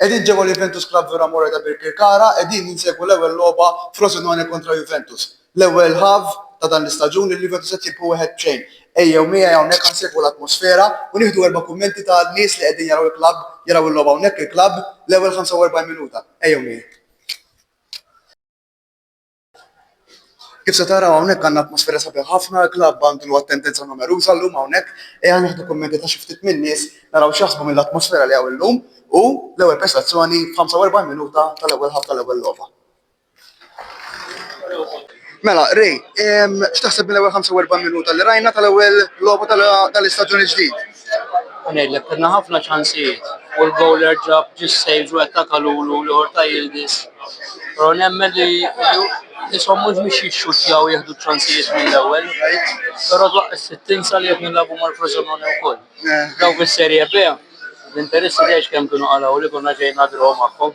Qegħdin ġewwa l-Juventus Club Villa Morra ta' Birkirkara qegħdin insegwu l-ewwel logħba Frosinone kontra Juventus. L-ewwel half ta' dan l-istaġun il-Juventus qed jirbu wieħed b'xejn. Ejjew miegħi hawnhekk ħa nsegwu l-atmosfera u nieħdu erba' kummenti ta' nies li qegħdin jaraw il-club jaraw il-logħba hawnhekk il-club l-ewwel 45 minuta. Ejjew miegħi. Kif se taraw hawnhekk għandna atmosfera sabiħa ħafna, il-klabb għandu l-watt tendenza numeruża llum hawnhekk. Ejja nieħdu kummenti ta' xi ftit min-nies naraw x'jaħsbu mill-atmosfera li hawn illum u l-ewwel prestazzjoni f'45 minuta tal-ewwel ħaff tal-ewwel logħba. Mela, Ray, x'taħseb mill-ewwel 45 minuta li rajna tal-ewwel logħba tal-istaġun il-ġdid? U ngħidlek, kellna ħafna ċansijiet u l-bowler ġab ġie s-save u attaka Lulu l-ieħor ta' Yildiz. Però nemmen li ishom mhux biex jixxuttjaw jieħdu ċ-ċansijiet mill-ewwel. Però twaqqif tinsa li qed nilagħbu mal-Frosinone wkoll. Dawk fis-Serie B, l-interessi tgħidx kemm kienu qalgħu li konna ġejna draw magħhom.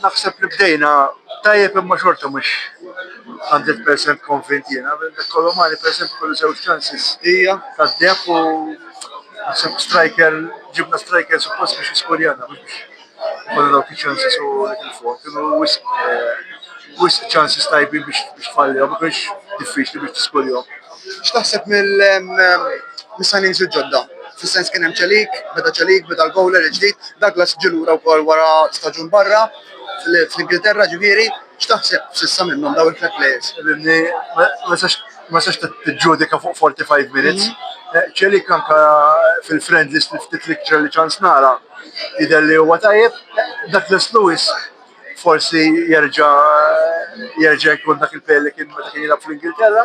Naħseb li bdejna tajjeb imma xorta mhux hundred percent konvint jiena. Kolomuani pereżempju kellu żewġ chances. Hija tad-deheb u naħseb striker ġibna striker suppost biex jiskurjana mhux biex ikollna dawk iċ-chances u nitilfuhom. Kienu wisq wisq chances tajbin biex tfallihom, ma kienx diffiċli biex tiskurjahom. X'taħseb mis-signings il-ġodda? Fis-sens kien hemm Celik, beda Celik, beda l-bowler il-ġdid, Douglas ġie lura wkoll wara staġun barra, fl-Ingilterra ġifieri, x'taħseb s'issa minnhom dawn it-tliet players? Fimni, ma tistax tiġġudika fuq 45 minutes. Celik anke fil-friendlies li ftit li kelli ċans nara jidher li huwa tajjeb. Douglas Lewis forsi jerġa' jerġa' jkun dak il-player li kien meta kien jilgħab fl-Ingilterra.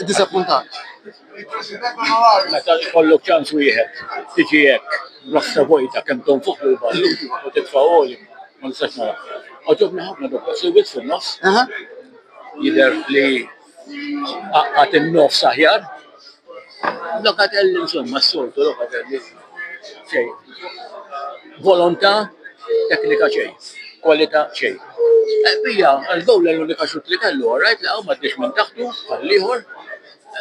iddisappuntat. Meta jkollok ċans wieħed tiġi hekk b'rassa vojta kemm tonfoq lil barra u titfa' goli ma nistax naraha. Għoġobni ħafna Douglas Luiz fin-nofs. Jidher li għaqqad in-nofs aħjar. Locatelli insomma s-soltu Locatelli. Xejn. Volontà, teknika xejn. Kwalità xejn. Pija, l-gowl l-unika xut li kellu, all right, laqgħu ma ddiex minn taħtu għall-ieħor.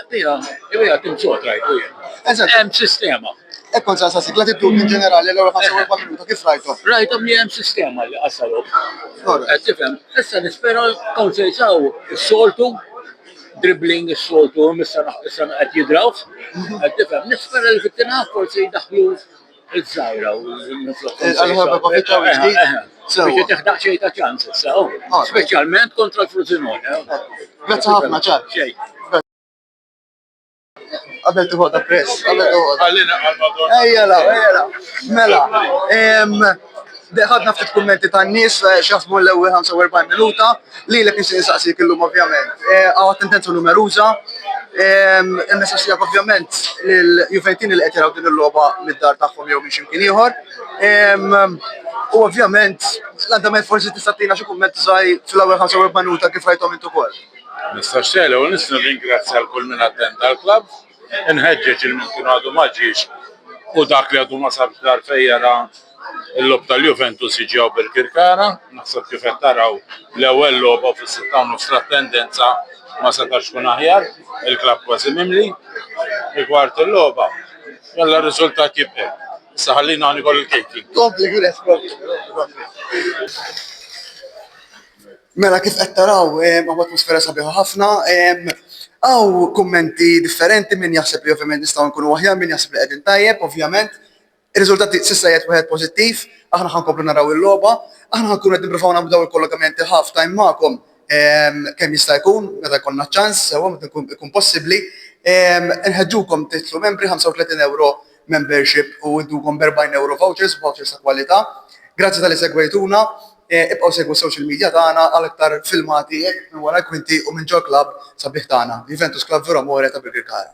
Pija, Pija tim sod rajtu jien. Eżatt. Hemm sistema. Hekk kont saqsa sigla tittu in ġenerali l-ewwel 45 minuta kif rajthom? Rajthom li hemm sistema li qassalhom. Qed tifhem? Issa nispera Counselsaw is-soltu dribbling is-soltu issa issa qed jidraw. Qed tifhem, nispera li fit-tina forsi jdaħlu iż-żgħira u Għal-ħabba pa' fiċċa u ġdid. Biex teħdaq xejn ta' ċans issa, oh. Ah. speċjalment kontra l-Frosinone. Grazzi ħafna, ċar. Xejn. Qabel tiħodha press, qabel tiħodha. Ejja la, ejja la. Mela, ħadna ftit kummenti tan-nies eh, x'jaħsbu l-ewwel 45 minuta, lilek nixtieq insaqsik illum ovvjament. Eh, Għaw tendenza numeruża, il-messaġġ tiegħek ovvjament lil Juventini li qed jaraw din il-logħba mid-dar tagħhom jew minn x'imkien ieħor. U ovvjament l-andament forsi tista' tina xi kumment żgħir fl-ewwel 45 minuta kif rajthom intu ukoll. Nistax sejħ l-ewwel nett nirringrazzja l-kull min attenda l-klabb, inħeġġeġ lil min kien għadu ma ġiex u dak li għadu ma sabx dar fejn jara l-logħob tal-Juventus jiġi hawn Birkirkara, naħseb kif qed taraw l-ewwel logħba fis-sitta u nofs l-attendenza ma setax tkun aħjar, il-klabb kważi mimli, rigward il-logħba, jalla r-riżultat jibqgħi. Issa ħallini aħna nieħu l-catering. Kompli Giuseppe. Mela kif qed taraw hawn atmosfera sabiħa ħafna, hawn kummenti differenti min jaħseb li ovvjament nistgħu nkunu aħjar, min jaħseb li qegħdin tajjeb ovvjament. Ir-riżultat s'issa qiegħed wieħed pożittiv, aħna ħa nkomplu naraw il-logħba, aħna ħa nkunu qed nipprovaw nagħmlu dawn il-kollokamenti half time magħkom kemm jista' jkun meta jkollna ċ-ċans sewwa meta jkun possibbli. Inħeġġukom tidħlu membri, 35 ewro membership u ngħiddukom b'erbgħin ewro vouchers, vouchers ta' kwalità. Grazzi talli segwejtuna, ibqgħu segwu s-social media tagħna għal aktar filmati minn wara l-kwinti u minn ġol-klabb sabiħ tagħna, Juventus Club Vero Amore ta' Birkirkara.